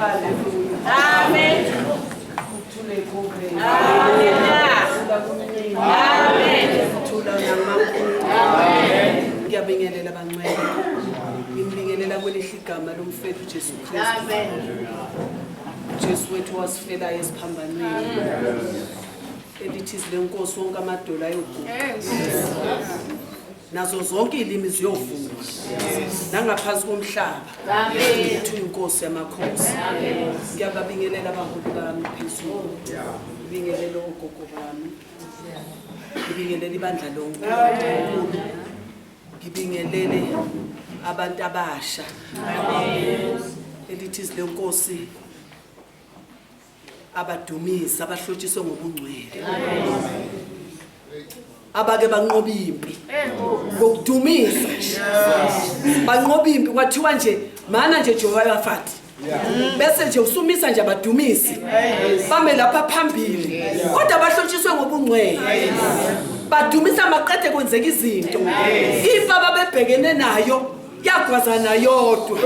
Amen. Ngiyabingelela bancwele. Ngibingelela kwelihle igama lomfethu Jesu Kristu. Jesu wethu wasifelayo esiphambanweni. Elithi izilenkosi wonke amadolo ayoguqa. nazo zonke iy'limi ziyovuma nangaphansi komhlaba ukuthi uyinkosi yamakhosi ngiyababingelela abaholi bami phezulu ngibingelele ogogo bami ngibingelele ibandla lonke ngibingelele abantu abasha elithi izilenkosi abadumisi abahlotshiswe ngobungcwele abake banqoba impi ngokudumisa banqoba impi kwathiwa nje mana nje Jehoshaphat bese nje usumisa nje abadumisi bame lapha phambili kodwa bahlotshiswe ngobungcwele badumisa maqede kwenzeka izinto impi ababebhekene nayo yagwazana yodwa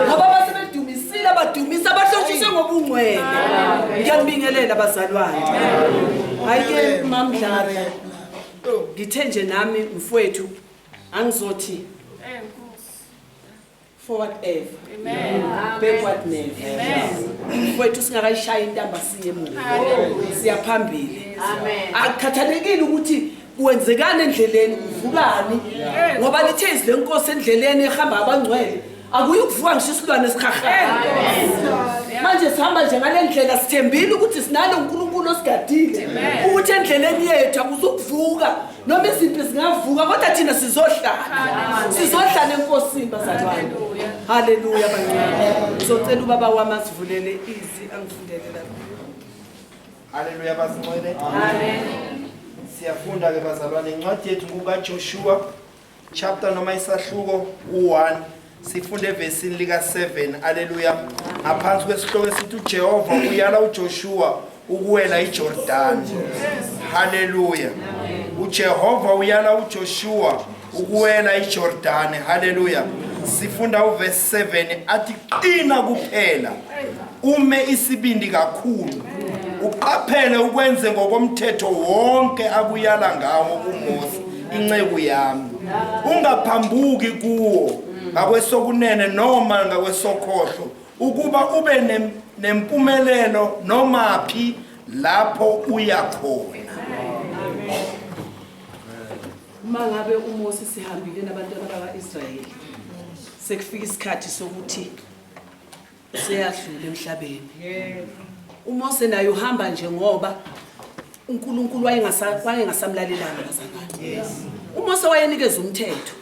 ngoba basebedumisile abadumisa abahlotshise ngobungcwele ngiyambingelela abazalwane hhayi-ke mamdlala ngithe nje nami mfowethu angizothi forward ever backward never mfowethu singakayishayi intamba siye emuva siyaphambili akukhathalekile ukuthi kwenzekani endleleni kuvukani ngoba lithe izwi lenkosi endleleni ehamba abangcwele akuyi ukuvuka ngisho isilwane esikhahlela manje sihamba nje ngale ndlela sithembile ukuthi sinalo unkulunkulu osigadile ukuthi endleleni yethu akuzukuvuka noma izimpi zingavuka kodwa thina sizohlala sizohlala enkosini bazalwane haleluya bancane ngizocela ubaba wami asivulele izi angifundele lapho Haleluya bazincwele. Amen. Siyafunda ke bazalwane incwadi yethu kuka Joshua chapter noma isahluko u1 sifunde evesini lika 7. Haleluya. Ngaphansi kwesihloko esithi uJehova uyala uJoshua ukuwela iJordan. Haleluya. Amen. uJehova uyala uJoshua ukuwela ijordane haleluya sifunda uvesi 7 athi qina kuphela ume isibindi kakhulu uqaphele ukwenze ngokomthetho wonke akuyala ngawo umose inceku yami ungaphambuki kuwo ngakwesokunene noma ngakwesokhohlo ukuba ube nempumelelo noma phi lapho uya khona Uma ngabe uMose sihambile nabantwana bakwa-Israyeli sekufika isikhathi sokuthi useyadlula emhlabeni. UMose naye uhamba nje ngoba uNkulunkulu wayengasamlalelanga bazalwane. UMose wayenikeza umthetho.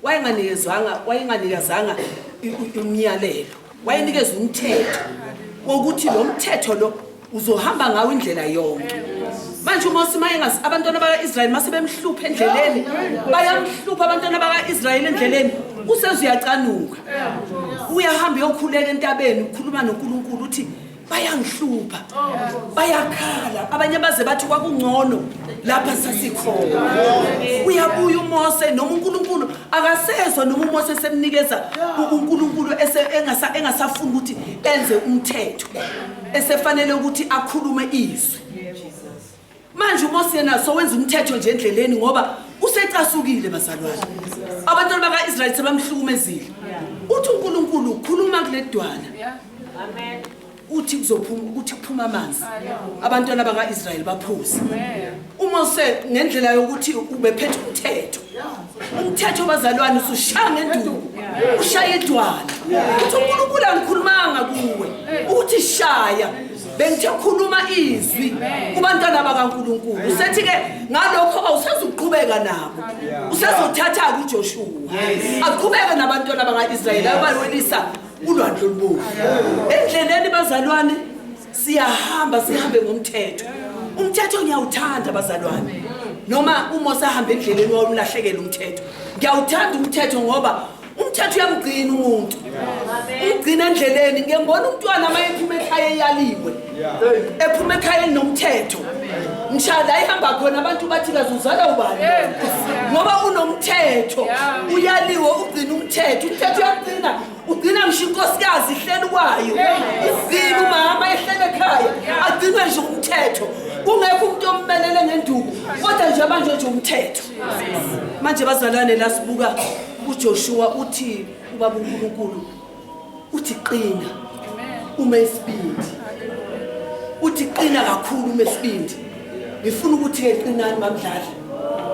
wayenganikezwanga wayenganikezanga umyalelo wayenikeza umthetho wokuthi lo mthetho lo uzohamba ngawo indlela yonke manje uma usimayengasi abantwana baka-israyeli mase bemhlupha endleleni bayamhlupha abantwana baka-israyeli endleleni useze uyacanuka uyahamba uyokhuleka entabeni ukhuluma nonkulunkulu uthi bayangihlupha bayakhala abanye baze bathi kwakungcono lapha sasikhona uyabuya umose noma unkulunkulu akasezwa noma umose esemnikeza unkulunkulu engasafuni ukuthi enze umthetho esefanele ukuthi akhulume izwi Manje uMose yena sowenza umthetho nje endleleni ngoba usecasukile bazalwane. Abantwana baka-Israyeli sebamhlukumezile. Uthi uNkulunkulu ukhuluma kuledwala. Amen. Uthi kuzophuma ukuthi kuphuma amanzi. Abantwana baka-Israyeli baphuza. UMose ngendlela yokuthi ubephethe umthetho. Umthetho bazalwane usushaya ngenduku. Ushaya idwala. Uthi uNkulunkulu angikhulumanga kuwe. Uthi shaya. bengithe khuluma izwi kubantwana bakaNkuluNkulu usethi ke ngalokho awusezuqhubeka nabo usezothatha kuJoshua aqhubeke nabantwana bakaIsrayeli abayolisa ulwandle olubomvu endleleni bazalwane siyahamba sihambe ngomthetho umthetho ngiyawuthanda bazalwane noma uma usahambe endleleni wawulahlekela umthetho ngiyawuthanda umthetho ngoba umthetho uyamgcina umuntu umgcina endleleni ngiyembona umntwana uma ephuma ekhaya eyaliwe ephuma ekhaya elinomthetho mshaya la ihamba khona abantu bathi kazuzala ubani ngoba unomthetho uyaliwe ugcina umthetho umthetho uyagcina ugcina ngisho inkosikazi ihleli kwayo izile umama ehlele ekhaya agcinwe nje umthetho kungekho umuntu ommelele ngenduku kodwa nje manje nje umthetho manje bazalwane la sibuka uJoshua uthi ubaba uNkulunkulu uthi qina uma isibindi uthi qina kakhulu uma isibindi ngifuna ukuthi ke qinani mamdlali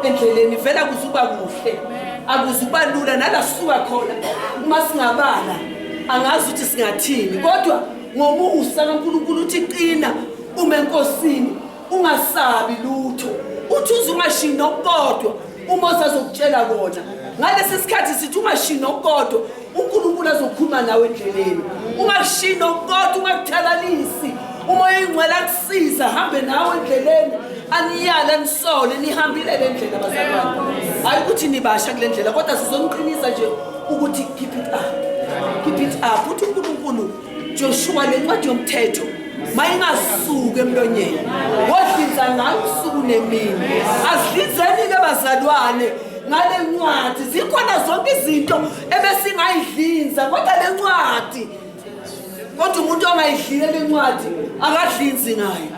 endleleni vela kuzuba kuhle akuzuba lula nala suka khona uma singabala angazi ukuthi singathini kodwa ngomusa kaNkulunkulu uthi qina uma enkosini ungasabi lutho uthi uze ungashiyi nokukodwa uma usazokutshela kona ngalesi sikhathi sithi ungashiyi nokukodwa unkulunkulu azokhuluma nawe endleleni ungashiyi nokukodwa ungakuthalalisi umoya ingcwele akusiza hambe nawe endleleni aniyale anisole nihambile le ndlela bazalwane hhayi ukuthi nibasha kule ndlela kodwa sizoniqinisa nje ukuthi keep it up keep it up uthi unkulunkulu Joshua le ncwadi yomthetho mayingasuki emlonyeni wodlinza ngayo usuku nemini asidlinzeni ke bazalwane ngale ncwadi zikhona zonke izinto ebesingayidlinza kodwa le ncwadi kodwa umuntu ongayidlile le ncwadi akadlinzi ngayo